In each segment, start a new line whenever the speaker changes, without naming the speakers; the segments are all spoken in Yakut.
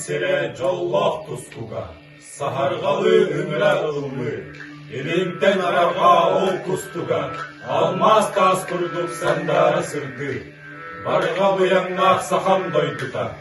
сирэ дьоллоох тустуга, саһарҕалыы үҥүрэ ыллыы, илинтэн арарҕаа ол кустуга, алмаас таас курдук сандаара сырдыы, барҕа быйаҥнаах сахам дойдута,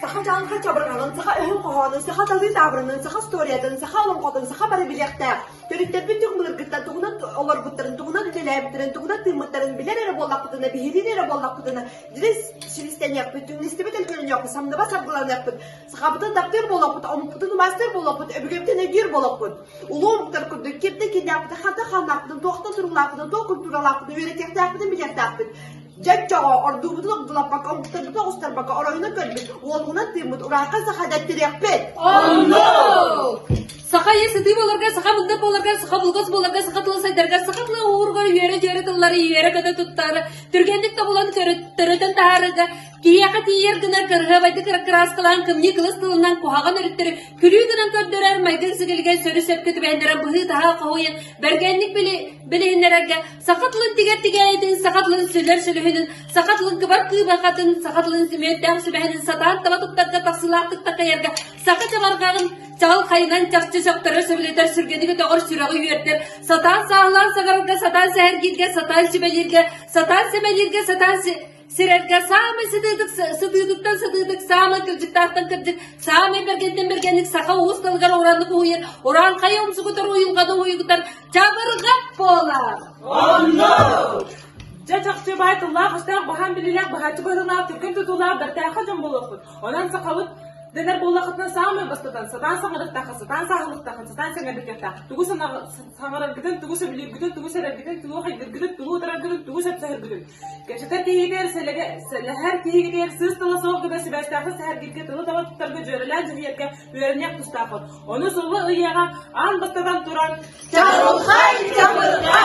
Саха дьаҥка чабырҕаҕын, саха өһүн хоһоонун, саха талыы таабырынын, саха устуоруйатын, саха олоҥхотун саха бары билиэхтээх, төрүттэппит түҥ былыргыттан тугунан олорбуттарын, тугунан үлэлээбиттэрин, тугунан тыыммыттарын билэр эрэ буоллахпытына, биһириир эрэ буоллахпытына, дирис силистэниэхпит, түҥнистибит өлгөрүнүөхпүт, самныбас саргыланыахпыт, сахабытын таптыыр буолуохпут, омукпутун умастыыр буолуохпут, өбүгэбитин өйдүүр буолуохпут. Улуу омуктар курдук кимтэн кииннээхпитин, хантан хааннаахпытын, туохтан туруулаахпытын, туох культуралаахпытын үөрэтиэхтээхпитин билиэхтээхпит. Чэччоҕо ордубутун огдулаппакка огустарбыта оҕустарбакка оройуна көрбүт уолугунан тыыммыт ураахха саха дэтtiриэхпит. Оннук! Саха ийэ сытыы буоларга, саха мындап буоларга, саха булгас буоларга, саха тыла сайдаргар, саха тыла ууругар үөрэ-дьүөрэ тыллары иэрэ-көтө туттаары, түргэнник тобулан төрөтөн таһаарарга, киһиэхэ тиийэр гынар кырыһабайдык кырааскалаан кымньыы кылыс тылынан куһаҕан өрүттэри күлүү гынан көрдөрөр майгын сигилигэн сөрү сөпкө түбэһиннэрэн быһыы-таһаа хоһуйан бэргэнник били билиһиннэрэргэ Саха тылын тигэр тигээйитин, саха тылын сүлэр сүлүһүнүн, саха тылын кыбар кыыбарҕатын, саха тылын күмүөрдээх сүбэһинин сатаан таба туттарга тахсыылаахтык такайарга саха чабарҕаҕын чаҕыл хайынан чахчы сөхтөрө сөбүлэтэр сүргэнигэ доҕор сүрэҕи үөрдэр, сатаан сааһылаан саҥарарга, сатаан сэһэргииргэ, сатаан сүбэлииргэ, сатаан сэмэлииргэ, сатаан Сирэргэ саамай сытыытык, сытыытыттан сытыытык, саамай кырдьыктаахтан кырдьык, саамай бэргэнтэн бэргэнник саха уус далыгар ураннык уһуйан, уран хайа умсугутар уйулҕаны уһуйгутан чабырҕат буолар. Онно! Дьэ чахчы баай тыллаах өстөөх баһаам билиилээх баһааччы быһыылаах түргэн тутуулаах бэртээхэ дьон буолуохпут. Онон сахабыт дэнэр буоллахытына саамай бастатан сатаан саҥарыктаахха сатаан сааһылыктаахха сатаан сэҥэрдиккэхтээх тугу саҥараргытын тугу сөбүлүүргүтүн тугу сэрэргитин тугу хайдыргытын тугу утараргытын тугу сөпсөһөргүтүн Көчөкө киһитигэр сэлэһэр киһигитигэр сыыс тыла суох гына сибээстээхтик сэһэргиргэ тылы таба туттарга дьүөрэлээн дьүһүйэргэ үөрэниэх тустааххыт. Ону сулла ыйыаҕа аан баттатан туран Чабырҕай чабырҕа!